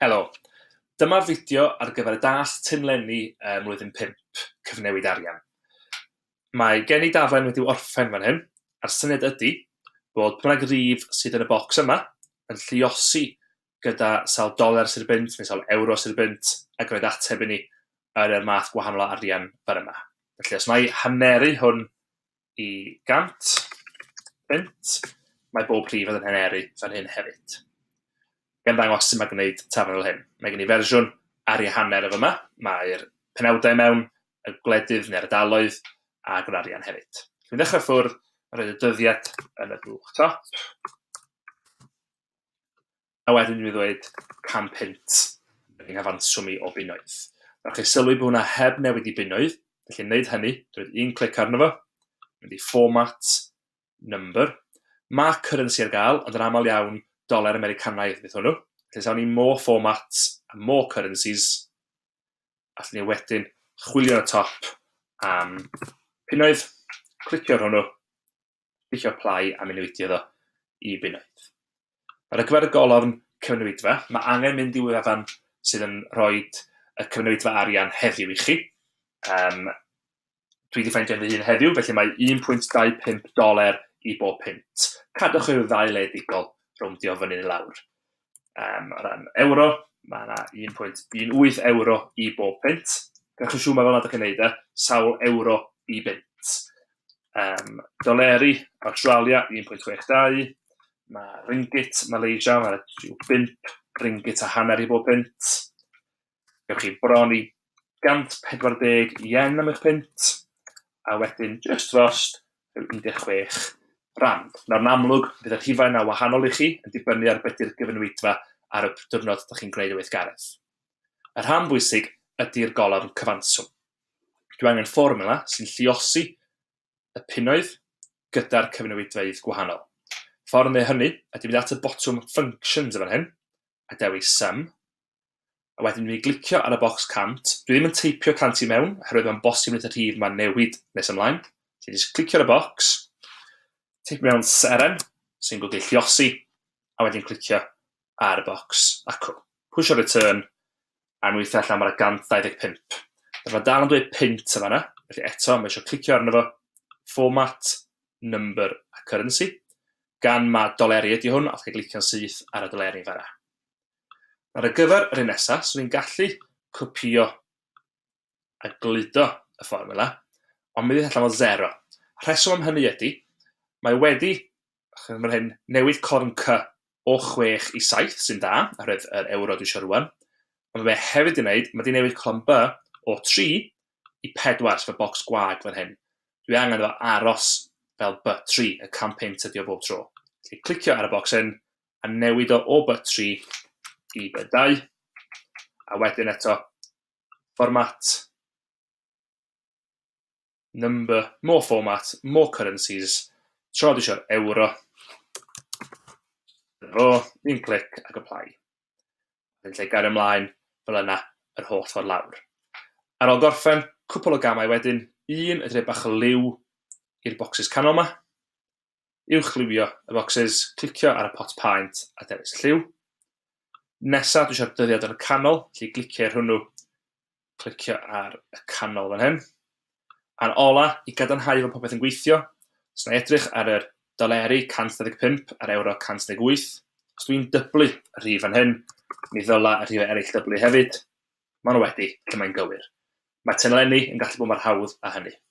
Helo, dyma'r fideo ar gyfer y das Tinlenni ym mlwyddyn 5, cyfnewid arian. Mae gen i daflen wedi'w orffen fan hyn, a'r syniad ydy bod prynag rif sydd yn y bocs yma yn lliosi gyda sawl doler sy'r bunt, neu sawl ewro sy'r bunt, ac roedd ateb i ni yn yr math gwahanol o arian fan yma. Felly, os mae haneru hwn i 100 bunt, mae bob rhif yn haneru fan hyn hefyd. Gan ddangos sy'n mae gwneud taflen fel hyn. Mae gen i fersiwn ar ei hanner efo yma. Mae'r penawdau mewn, y gwledydd neu'r ardaloedd, a gwneud arian hefyd. Dwi'n dechrau ffwrdd, a roedd y dyddiad yn y blwch top. a wedyn mi ddweud cam punt yng nghyfanswm i o bunnoedd. Nawr chi sylwi bod hwnna heb newid i bunnoedd, felly wneud hynny, dwi'n un clic arno fo, mynd i format, number, mae currency ar gael, ond yn aml iawn, doler Americanaidd fydd hwnnw. Felly sawn ni more formats a more currencies, allwn ni wedyn chwilio y top am punnoedd, clicio ar hwnnw, Sbwyllo plâu a mynwitio iddo i bunnoedd. Ar y cyfer y golofn cyfnewidfa, mae angen mynd i wefan sydd yn rhoi y cyfnewidfa arian heddiw i chi. Um, dwi wedi ffeindio fy hun heddiw, felly mae 1.25 doler i bob pint. Cadwch i'r ddau ledigol rowndio fyny neu lawr. um, o ran euro, mae yna 1.18 euro i bob pint. Gallwch siŵr mae fel nad ydych chi'n neud e, sawl euro i bint. Um, doleri, Australia 1.62, mae ringgit, Malaysia, mae rhyw 5 ringgit a hanner i bob pint. gewch chi bron i 140 yen am eich pint, a wedyn just drost rhyw 16 rand. Nawr yn amlwg, bydd y rhifau yna wahanol i chi yn dibynnu ar beth yw'r gyfynwydfa ar y diwrnod ydych chi'n gwneud y weithgaredd. Y rhan bwysig ydy'r golofn cyfanswm. Dwi angen fformula sy'n lliosi y punnoedd gyda'r cyfynwydfeydd gwahanol. Ffordd yn ei hynny ydy mynd at y botwm Functions yn fan hyn, a dewis Sum, A wedyn dwi'n mynd i glicio ar y bocs 100. Dwi ddim yn teipio 100 i mewn, oherwydd mae'n bosib wneud y rhif ma'n newid nes ymlaen. Felly jyst clicio ar y bocs, teipio mewn seren, sy'n golygu lliosi, a wedyn clicio ar y bocs acw. Pwysio return, a nhw eitha allan mae'r 125. Felly mae dal yn dweud pint yma yna, felly eto mae eisiau clicio arno fo, format, number a currency, gan mae doleri ydy hwn, allai glicio'n syth ar y doleri fanna. Ar y gyfer yr un nesaf, swn i'n gallu copïo a gludo y fformiwla, ond mi fydd allan o zero. Y rheswm am hynny ydy, mae wedi, chymryd mae'r hyn, newid corn cy o 6 i 7, sy'n dda, oherwydd yr euro dwi eisiau rwan. Ond mae hefyd wedi wneud, mae wedi newid colon by o 3 i 4, sef y bocs gwag fan hyn. Dwi angen efo aros fel by 3, y campaign tydio bob tro. Felly clicio ar y bocs hyn, a newid o o by 3 i by 2, a wedyn eto format number, more format, more currencies, tro di eisiau'r euro, fo, un clic ac apply. Yn lle gair ymlaen, fel yna, yr holl ffordd lawr. Ar ôl gorffen, cwpl o gamau wedyn, un y dre bach o liw i'r bocsys canol yma, uwchlywio y bocsys, clicio ar y pot paent a dewis y lliw. Nesa, dwi eisiau'r dyddiad yn y canol, felly glicio ar hwnnw, clicio ar y canol fan hyn. A'r ola, i gadarnhau fod popeth yn gweithio, os na edrych ar yr doleri 125 a'r euro 118, os dwi'n dyblu y rhif fan hyn, mi ddyla y rhifau eraill dyblu hefyd. Maen nhw wedi, lle mae'n gywir. Mae tenlenni yn gallu bod mor hawdd a hynny.